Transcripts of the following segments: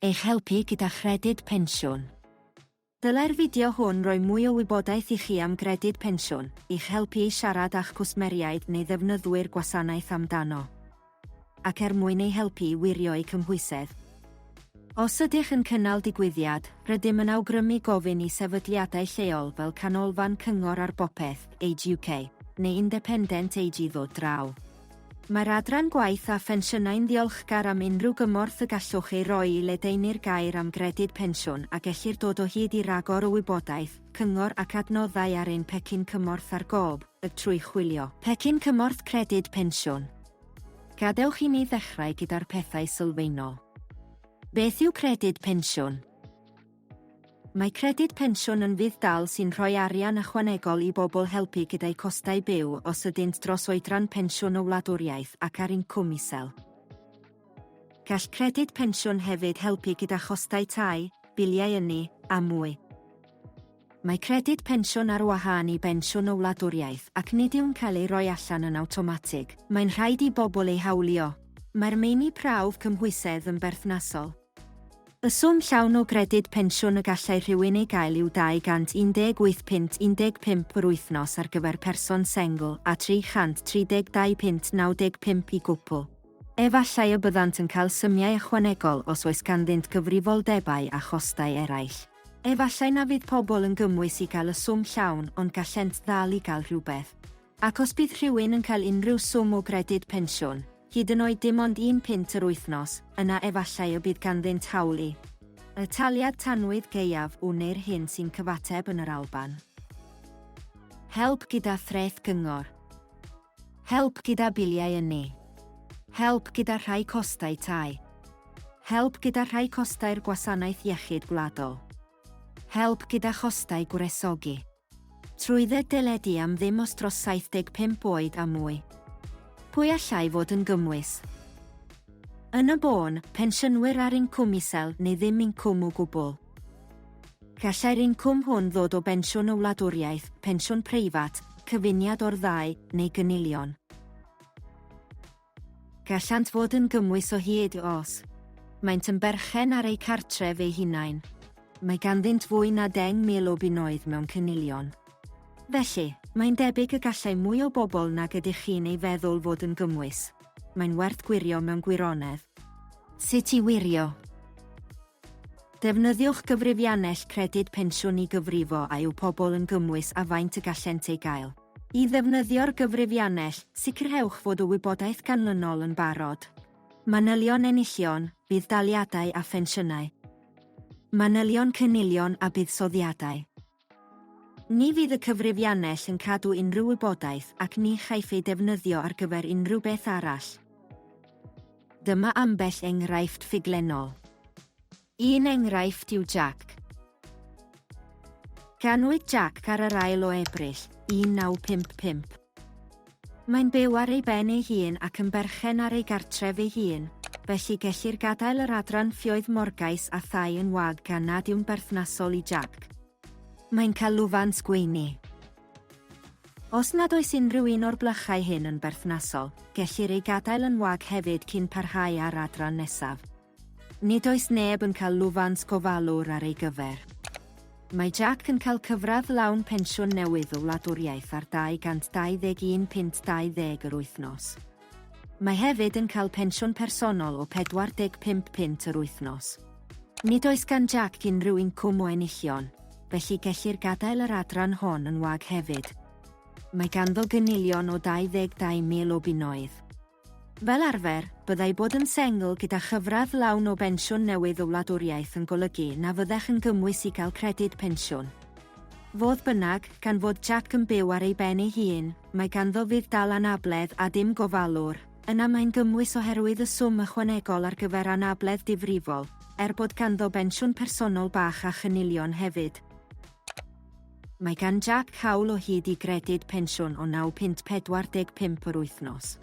eich helpu gyda Chredyd Pensiwn. Dylai'r fideo hwn roi mwy o wybodaeth i chi am Gredyd Pensiwn, i'ch helpu i siarad â'ch cwsmeriaid neu ddefnyddwyr gwasanaeth amdano, ac er mwyn eu helpu i wirio'u cymhwysedd. Os ydych yn cynnal digwyddiad, rydym yn awgrymu gofyn i sefydliadau lleol fel Canolfan Cyngor ar Bopeth, Age UK, neu Independent Age i ddod draw. Mae'r Adran Gwaith a Phensiynau'n ddiolchgar am unrhyw gymorth y gallwch ei roi i ledaenu'r gair am Gredyd Pensiwn a gellir dod o hyd i ragor o wybodaeth, cyngor ac adnoddau ar ein Pecyn Cymorth ar Gob, y trwy chwilio. Pecyn Cymorth Credyd Pensiwn. Gadewch i ni ddechrau gyda'r pethau sylfaenol. Beth yw Credyd Pensiwn? Mae Credyd Pensiwn yn fudd-dal sy'n rhoi arian ychwanegol i bobl helpu gyda'u costau byw os ydynt dros oedran pensiwn o wladwriaeth ac ar incwm isel. Gall Credyd Pensiwn hefyd helpu gyda chostau tai, biliau ynni, a mwy. Mae Credyd Pensiwn ar wahân i bensiwn o wladwriaeth ac nid yw'n cael ei roi allan yn awtomatig, mae'n rhaid i bobl ei hawlio. Mae'r meini prawf cymhwysedd yn berthnasol. Y swm llawn o gredyd pensiwn y gallai rhywun ei gael yw 218 punt 15 yr wythnos ar gyfer person sengl a 332 punt 95 i gwpl. Efallai y byddant yn cael symiau ychwanegol os oes ganddynt gyfrifoldebau a chostau eraill. Efallai na fydd pobl yn gymwys i gael y swm llawn ond gallent ddal i gael rhywbeth. Ac os bydd rhywun yn cael unrhyw swm o gredyd pensiwn, hyd yn oed dim ond un punt yr wythnos, yna efallai y bydd ganddynt hawl i y taliad tanwydd gaeaf u neu'r hyn sy'n cyfateb yn yr Alban. Help gyda threth gyngor. Help gyda biliau ynni. Help gyda rhai costau tai. Help gyda rhai costau'r Gwasanaeth Iechyd Gwladol. Help gyda chostau gwresogi. Trwydded deledu am ddim os dros 75 oed a mwy. Pwy allai fod yn gymwys? Yn y bôn, pensiynwyr ar incwm isel neu ddim incwm o gwbl. Gallai'r incwm hwn ddod o bensiwn y wladwriaeth, pensiwn preifat, cyfuniad o'r ddau, neu gynilion. Gallant fod yn gymwys o hyd os maent yn berchen ar eu cartref eu hunain. Mae ganddynt fwy na 10,000 o bunnoedd mewn cynilion. Felly, mae'n debyg y gallai mwy o bobl nag ydych chi'n ei feddwl fod yn gymwys. Mae'n werth gwirio mewn gwirionedd. Sut i wirio. Defnyddiwch gyfrifiannell Credyd Pensiwn i gyfrifo a yw pobl yn gymwys a faint y gallent ei gael. I ddefnyddio'r gyfrifiannell, sicrhewch fod y wybodaeth ganlynol yn barod. Manylion enillion, budd-daliadau a phensiynau. Manylion cynilion a buddsoddiadau. Ni fydd y cyfrifiannell yn cadw unrhyw wybodaeth ac ni chaiff ei defnyddio ar gyfer unrhyw beth arall. Dyma ambell enghraifft ffuglenol. Un enghraifft yw Jack. Ganwyd Jack ar yr ail o Ebrill, 1955. Mae'n byw ar ei ben ei hun ac yn berchen ar ei gartref ei hun, felly gellir gadael yr adran ffioedd morgais a thai yn wag gan nad yw'n berthnasol i Jack. Mae'n cael lwfans gweini. Os nad oes unrhyw un o'r blychau hyn yn berthnasol, gellir ei gadael yn wag hefyd cyn parhau â'r adran nesaf. Nid oes neb yn cael lwfans gofalwr ar ei gyfer. Mae Jack yn cael cyfradd lawn pensiwn newydd o wladwriaeth ar 221 punt 20 yr wythnos. Mae hefyd yn cael pensiwn personol o 45 punt yr wythnos. Nid oes gan Jack unrhyw incwm o enillion, felly gellir gadael yr adran hon yn wag hefyd. Mae ganddo gynilion o 22,000 o bunnoedd. Fel arfer, byddai bod yn sengl gyda chyfradd lawn o bensiwn newydd o wladwriaeth yn golygu na fyddech yn gymwys i gael credyd pensiwn. Fodd bynnag, gan fod Jack yn byw ar ei ben ei hun, mae ganddo fudd dal anabledd a dim gofalwr, yna mae'n gymwys oherwydd y swm ychwanegol ar gyfer anabledd difrifol, er bod ganddo bensiwn personol bach a chynilion hefyd. Mae gan Jac hawl o hyd i gredyd pensiwn o naw punt 45 yr wythnos.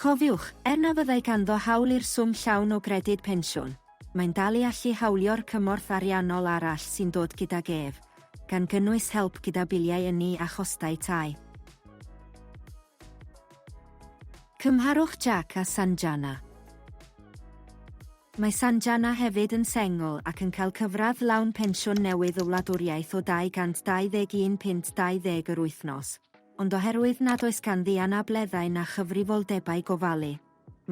Cofiwch, er na fyddai ganddo hawl i'r swm llawn o gredyd pensiwn, mae'n dal i allu hawlio'r cymorth ariannol arall sy'n dod gydag ef, gan gynnwys help gyda biliau ynni a chostau tai. Cymharwch Jac a Sanjana. Mae Sanjana hefyd yn sengl ac yn cael cyfradd lawn pensiwn newydd y wladwriaeth o 221 punt 20 yr wythnos, ond oherwydd nad oes ganddi anableddau na chyfrifoldebau gofalu,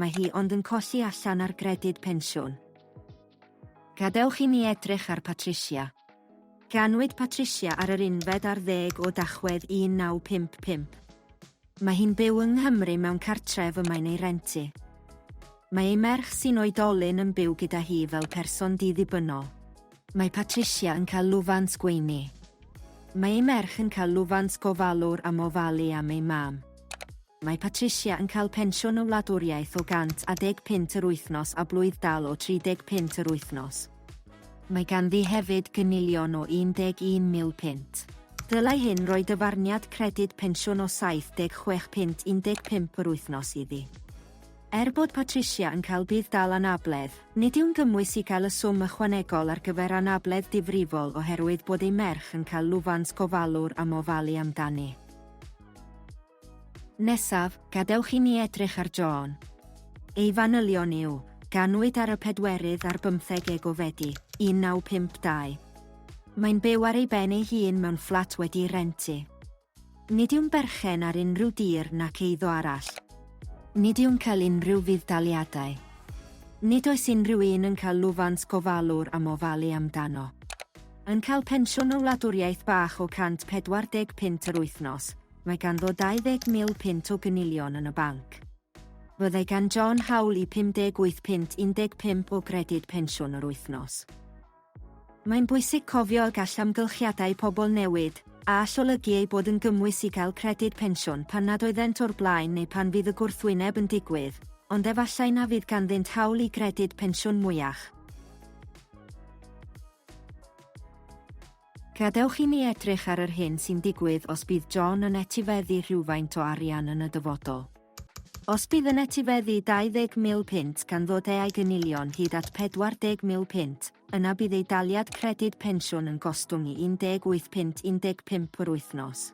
mae hi ond yn colli allan ar gredyd pensiwn. Gadewch i ni edrych ar Patricia. Ganwyd Patricia ar yr unfed ar ddeg o Dachwedd 1955. Mae hi'n byw yng Nghymru mewn cartref y mae'n ei rentu. Mae ei merch sy'n oedolyn yn byw gyda hi fel person di-ddibynnol. Mae Patricia yn cael lwfans gweini. Mae ei merch yn cael lwfans gofalwr am ofalu am ei mam. Mae Patricia yn cael pensiwn y wladwriaeth o 100 a deg punt yr wythnos a blwydd-dal o 35 yr wythnos. Mae ganddi hefyd gynilion o 11 mil punt. Dylai hyn roi dyfarniad credyd pensiwn o 76 punt 15 yr wythnos iddi. Er bod Patricia yn cael budd-dal anabledd, nid yw'n gymwys i gael y swm ychwanegol ar gyfer anabledd difrifol oherwydd bod ei merch yn cael lwfans gofalwr am ofalu amdani. Nesaf, gadewch i ni edrych ar John. Ei fanylion yw, Ganwyd ar y pedwerydd ar bymtheg Eg o Fedi, 1952. Mae'n byw ar ei ben ei hun mewn fflat wedi'i rentu. Nid yw'n berchen ar unrhyw dir nac eiddo arall. Nid yw'n cael unrhyw fudd-daliadau. Nid oes unrhyw un yn cael lwfans gofalwr am ofalu amdano. Yn cael pensiwn o wladwriaeth bach o 140 punt yr wythnos, mae ganddo 20,000 punt o gynilion yn y banc. Byddai gan John hawl i 58 punt 15 o gredyd pensiwn yr wythnos. Mae'n bwysig cofio y gall amgylchiadau pobl newid, a all olygu eu bod yn gymwys i gael credyd pensiwn pan nad oeddent o'r blaen neu pan fydd y gwrthwyneb yn digwydd, ond efallai na fydd ganddynt hawl i gredyd pensiwn mwyach. Gadewch i ni edrych ar yr hyn sy'n digwydd os bydd John yn etifeddu rhywfaint o arian yn y dyfodol. Os bydd yn etifeddu 20,000 punt gan ddod eai gynilion hyd at 40,000 punt, yna bydd ei daliad credyd pensiwn yn gostwng i 18 punt 15 yr wythnos.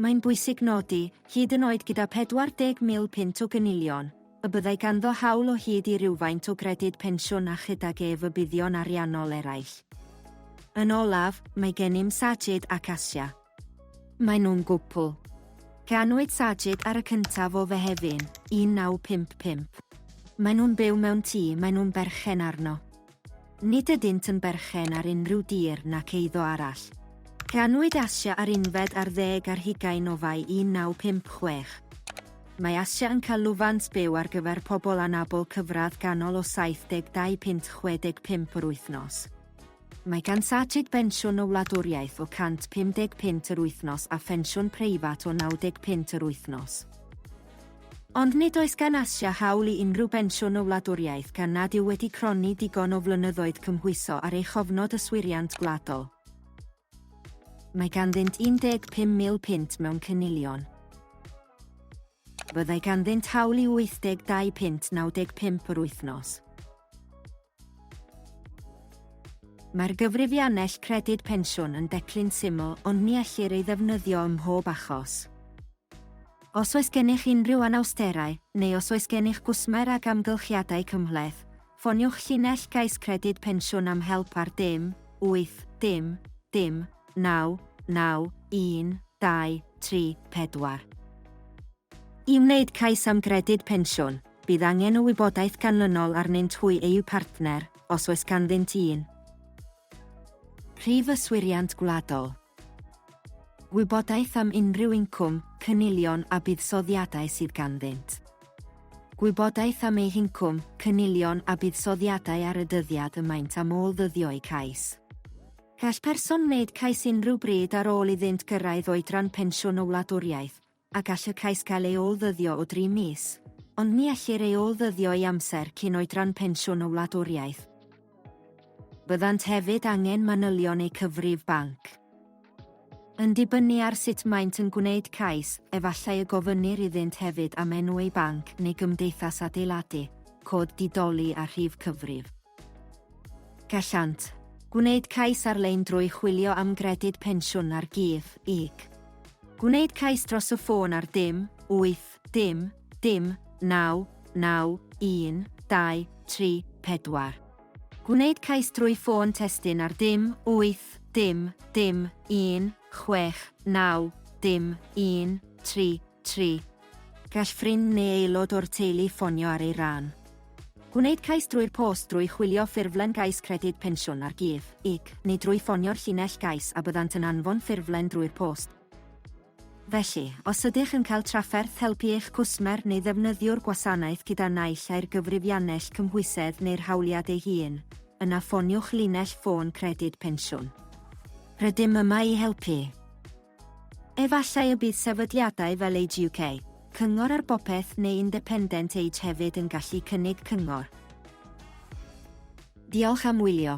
Mae'n bwysig nodi, hyd yn oed gyda 40,000 punt o gynilion, y byddai ganddo hawl o hyd i rywfaint o gredyd pensiwn a chydag ef y buddion ariannol eraill. Yn olaf, mae gennym Sajid ac Asia. Maen nhw'n gwpl. Ganwyd Sajid ar y cyntaf o Fehefin, 1955. Maen nhw'n byw mewn tŷ maen nhw'n berchen arno. Nid ydynt yn berchen ar unrhyw dir nac eiddo arall. Canwyd Asia ar unfed ar ddeg ar hugain o Fai 1956. Mae Asia yn cael lwfans byw ar gyfer pobl anabl cyfradd ganol o 72 punt 65 yr wythnos. Mae gan Sajid bensiwn y wladwriaeth o 150 punt yr wythnos a phensiwn preifat o 90 punt yr wythnos. Ond nid oes gan Asia hawl i unrhyw bensiwn o wladwriaeth gan nad yw wedi cronni digon o flynyddoedd cymhwyso ar ei chofnod yswiriant gwladol. Mae ganddynt 15,000 punt mewn cynilion. Byddai ganddynt hawl i 82 punt 95 yr wythnos. Mae'r gyfrifiannell Credyd Pensiwn yn declyn syml ond ni ellir ei ddefnyddio ym mhob achos. Os oes gennych unrhyw anawsterau, neu os oes gennych gwsmer ag amgylchiadau cymhleth, ffoniwch llinell gais Credyd Pensiwn am help ar dim, wyth, dim, dim, naw, naw, un, dau, tri, pedwar. I wneud cais am Gredyd Pensiwn, bydd angen y wybodaeth ganlynol arnynt hwy eu partner, os oes ganddynt un. Prif yswiriant gwladol. Gwybodaeth am unrhyw incwm, cynilion a buddsoddiadau sydd ganddynt. Gwybodaeth am eu hincwm, cynilion a buddsoddiadau ar y dyddiad y maent am ôl-ddyddio eu cais. Gall person wneud cais unrhyw bryd ar ôl iddynt gyrraedd oedran pensiwn y wladwriaeth, a gall y cais gael ei ôl-ddyddio o dri mis, ond ni ellir ei ôl-ddyddio i amser cyn oedran pensiwn y wladwriaeth. Byddant hefyd angen manylion eu cyfrif banc. Yn dibynnu ar sut maent yn gwneud cais, efallai y gofynnir iddynt hefyd am enw eu banc neu gymdeithas adeiladu, cod di-doli a rhif cyfrif. Gallant gwneud cais ar-lein drwy chwilio am Gredyd Pensiwn ar Gig, gig. Gwneud cais dros y ffôn ar dim, wyth, dim, dim, naw, naw, un, dau, tri, pedwar. Gwneud cais drwy ffôn testun ar dim, wyth, dim, dim, un, chwech, naw, dim, un, tri, tri, Gall ffrind neu aelod o'r teulu ffonio ar ei ran. Gwneud cais drwy'r post drwy chwilio ffurflen gais Credyd Pensiwn ar Gig, ig, neu drwy ffonio'r llinell gais a byddant yn anfon ffurflen drwy'r post. Felly, os ydych yn cael trafferth helpu eich cwsmer neu ddefnyddiwr gwasanaeth gyda naill ai'r gyfrifiannell cymhwysedd neu'r hawliad ei hun, yna ffoniwch linell ffôn Credyd Pensiwn. Rydym yma i helpu. Efallai y bydd sefydliadau fel Age UK, Cyngor ar Bopeth neu Independent Age hefyd yn gallu cynnig cyngor. Diolch am wylio.